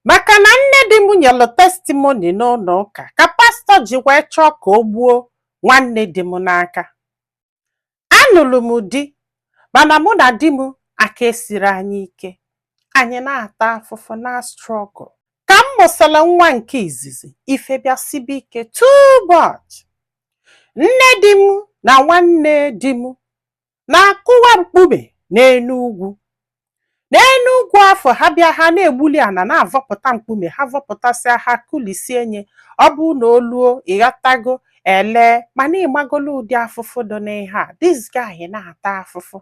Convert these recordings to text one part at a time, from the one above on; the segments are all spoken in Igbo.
maka na nne di m nyelụ testimony n'ụlọ ụka ka pastor ji wee chọọ ka o gbuo nwanne di m n'aka anụrụ m di mana mụ na di m aka esirọ anyị ike anyị na-ata afụfụ na struggle ka m mụsịrị nwa nke izizi ife bịa sibe ike too much nne di m na nwanne di m na-akụwa mkpume n'enu ugwu n'enu ugwu afụ ha bịa ha na-egbuli ana na-avọpụta mkpume ha vọpụtasịa ha kụlisie nye ọ bụ na oluo ịghọtago ele mana ị magolo ụdị afụfụ dị n'ihe a this guy na-ata afụfụ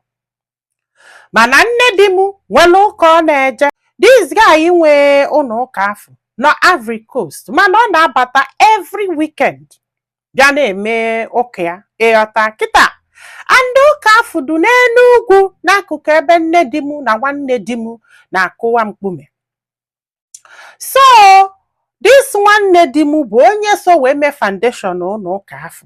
mana nne di m nwere ụka ọ na-eje this guy nwe ụnọ ụka afụ nọ Ivory Coast mana ọ na-abata every weekend bịa na-eme ụka ya ịghọta kịta and ụka afụ dụ n'enu ugwu n'akụkụ ebe nne di m na nwanne di m na-akụwa mkpume so this nwanne di m bụ onye so wee mee foundation ụnọ ụka afụ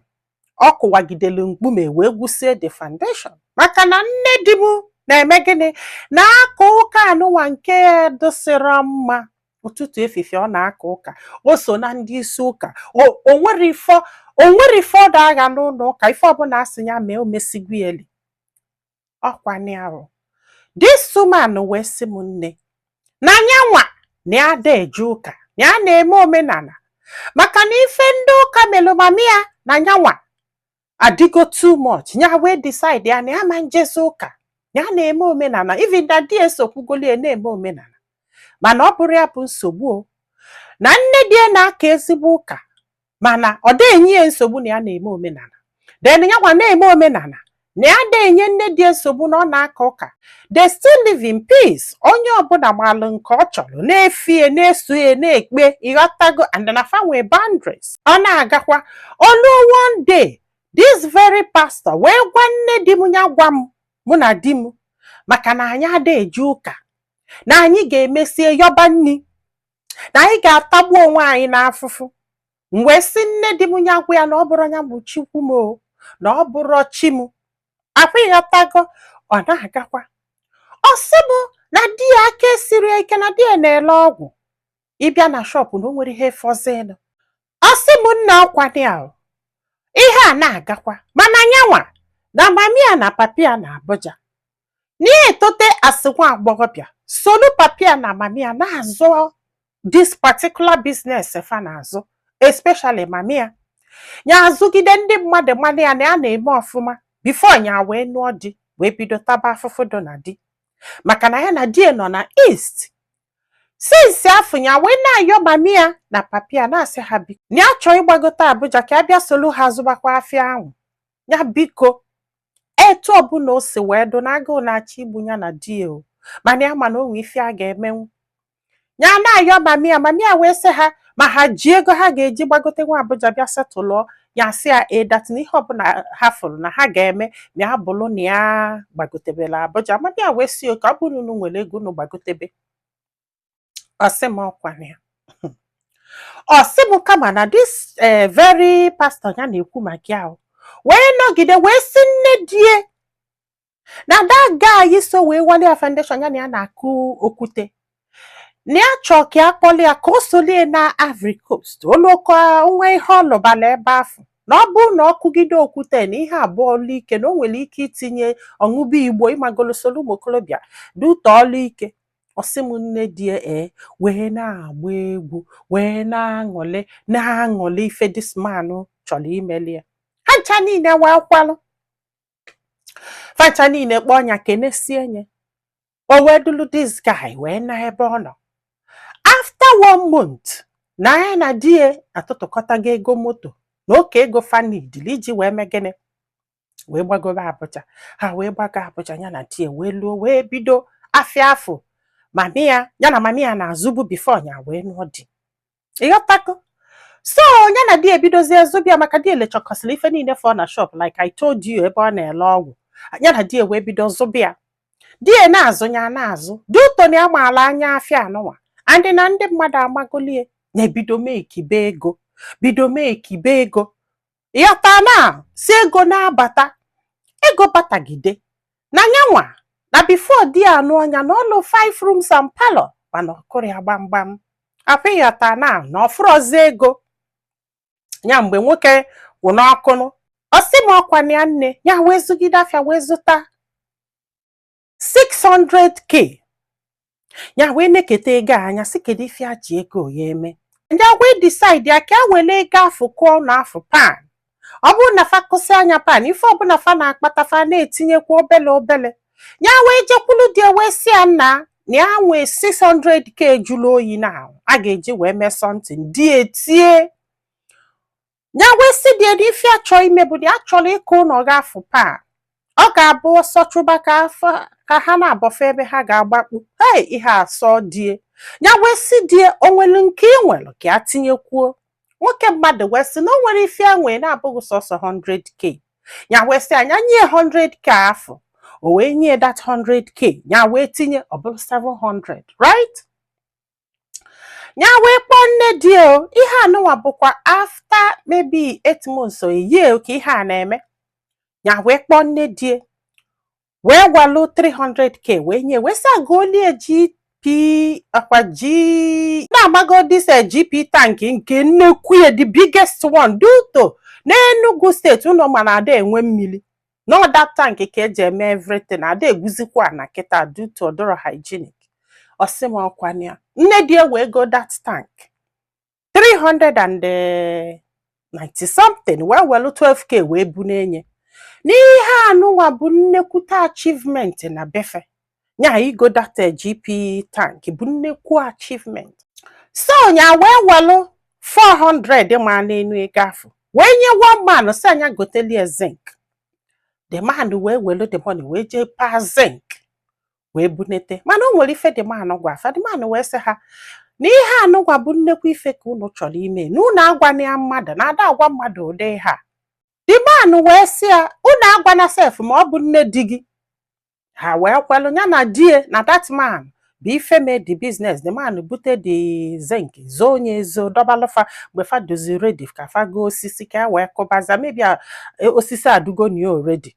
ọ kụwagidelu mkpume wee gwusie the foundation maka na nne di m na-eme gịnị na-aka ụka anụnwa nke ya dịsịrọ mma ụtụtụ efifie ọ na-aka ụka o so na ndị isi ụka o nwerọ o nwerọ ife ọ da agha n'ụnọ ụka ife ọbụla a sị ya mee omesigwieli ọkwanye arụ this woman wee sị m nne na nyanwa na ya ada eje ụka na ya na-eme omenala maka na ife ndị ụka melụ mami ya na nyanwa adịgo too much nya wee decide ya na ya ama njezi ụka ya na-eme omenala even na di ya esokwugolie na-eme omenala mana ọ bụrọ ya bụ nsogbu o na nne di ya na-aka ezigbo ụka mana ọ da-enye ya nsogbu na ya na-eme omenala then nyanwa na-eme omenala na ya da-enye nne di ya nsogbu na ọ na-aka ụka they still live in peace onye ọbụla malụ nke ọ chọrọ na-efie na-eso ya na-ekpe ịghọtago and na fa nwee boundaries ọ na-agakwa o lu one day this very pastor wee gwa nne di m ya gwa m mụ na di m maka na anyị ada eje ụka na anyị ga-emesie yọba nni na anyị ga-atagbu onwe anyị n'afụfụ m wee sị nne di m ya gwa ya na ọ bụrọ ya bụ Chukwu m o na ọ bụrọ chi m akwa ịghọtago ọ na-agakwa ọ sị m na di ya aka esirọ ya ike na di ya na-ele ọgwụ ị bịa na shop na o nwerọ ihe fọzilụ ọ sị m nna ọkwa ya ihe a na-agakwa mana nyanwa na mami ya na papi ya na Abuja na-etote as nwa agbọghọbịa solu papi ya na mami ya na-azụ this particular business fa na-azụ especially mami ya nya azụgide ndị mmadụ ama nya na ya na-eme ọfụma before nya wee nụọ di wee bido taba afụfụ dụ na di maka na ya na di ya nọ na east since afụ ya wee na-ayọ mami ya na papi ya na-asị ha biko na ya chọọ ịgbagote abuja ka ya bịa solu ha zụbakwa afịa ahụ ya biko etu ọbụla o si wee dụ na agụụ na-achọ igbu ya na di o mana ya ma na o nwe ife a ga-emenwu ya na-ayọ mami ya mami ya wee sị ha ma ha ji ego ha ga-eji gbagote nwa Abuja bịa settle ya sị ya that na ihe ọbụla ha fụrụ na ha ga-eme ma ya bụrụ na ya gbagotebela Abuja mami ya wee sị okay ọ bụrụ na unu nwere ego unu gbagotebe ọ sị m ọkwa na ya ọ sị m kama na this eh, very pastor ya na-ekwu maka ya o. wee nọgide wee sị nne di ya na that guy so wee wali ya foundation ya na ya na-akụ okwute na ya chọọ ka ya kpọli ya ka o solie naa Ivory Coast olụka nwa ihe ọlụbala ebe afụ na ọ bụrụ na ọ kụgide okwute na ihe a bụ ọlụ ike na o nwere ike itinye ọ ṅụbe igbo ịmagolo soro ụmụ okorobịa due to ọlụ ike ọ sị m nne di ya wee na-agba egwu wee na-aṅụlị na-aṅụlị ife this man chọrọ imeli ya ha ncha niile wee kwalụ facha niile kpọọ nya kenesie nya o wee dulu this guy wee naa ebe ọ nọ after one month na ya na di ya atụtụkọtago ego moto na oke ego fa needili iji wee mee gịnị wee gbagobe Abuja ha wee gbago Abuja ya na di ya wee luo wee bido afịa afụ mami ya ya na mami ya na-azụbu before nya wee nụọ di ịghọtago so nya na di ya ebidozie zụba ya maka di ya elechọkọsịrị ife niile fọ na shop like I told you ebe ọ na-ele ọgwụ nya na di ya wee bido zụba ya di ya na-azụ nya na-azụ due to na ya maala anya afịa anụnwa and na ndị mmadụ amagolie nya ebido mekibe ego bido mekibe ego ịghọta na si ego na-abata ego batagide na nyanwa na before di ya anụọ nya na ọ lụ five rooms and parlor mana ọ kụrọ ya gbamgbam ọkwa ịghọta na na ọ fụrọzi ego ya mgbe nwoke wụ n'ọkụnụ ọ sị m ọkwa na ya nne ya wee zụgide afịa wee zụta 600k nya wee neketa ego anya sị kedu ife a ji ego ya eme nya wee decide ya ka e were ego afụ kụọ ụnọ afụ pan ọ bụrụ na fa kụsịa nya pan ife ọbụla fa na-akpata fa na-etinyekwa obele obele ya wee jekwulu di ya wee sị ya nna na ya nwee 600k jụrụ oyi na a ga-eji wee mee something di ya etie ya wee sị die n'ife a chọ ime bụ dị achọrọ ịkụ ụlọ ga afụ pan ọ ga-abụ ọsọ chụba ka ha na-abọfe ebe ha ga-agbakpu hei ihe asọ die ya wee sị die o nwelu nke ị nwere ka ya tinyekwuo nwoke mmadụ wee sị na o nwerọ ife a nwee na-abụghị sọsọ 100k ya wee sị a nya nye 100k afụ o wee nye that 100k ya wee tinye ọ bụrụ 700 right ya wee kpọọ nne di ya o ihe anụnwa bụkwa after maybe eight months or a year ka ihe a na-eme ya wee kpọọ nne di ya wee welụ 300k wee nye wee sị a golie GP ọkwa gị na-amago this eh, GP tank nke nnekwu ya the biggest one due to n'Enugu steeti unu ma na ada enwe mmiri na ọ that tank ka eji eme everything ada egwuzikwa ana kịta due to ọ dọrọ hygienic ọ sị m ọkwa ya nne die wee go that tank 390 something wee welu 12k wee bu n'enye n'ihe anụnwa bụ nnekwute achievement na be fa ya igo that eh, GP tank bụ nnekwu achievement so ya wee welụ 400 ma n'enu ego afụ wee nye one man sị a nya gotelie zinc the man wee welu the money wee jee paa zinc wee bunete mana o nwere ife the man gwa fa the man wee sị ha na ihe anụnwa bụ nnekwu ife ka unu chọrọ ime na unu agwana ya mmadụ na ada agwa mmadụ ụdị ihe a the man wee sị ya unu agwana sef ma ọ bụ nne di gị ha wee kwelụ ya na die na that man bụ ife mee the business the man bute the zinc zoo nya ezo dọbalụ fa mgbe fa dọzi ready ka fa goo osisi ka e wee kụbaza maybe e, osisi adụgo nya already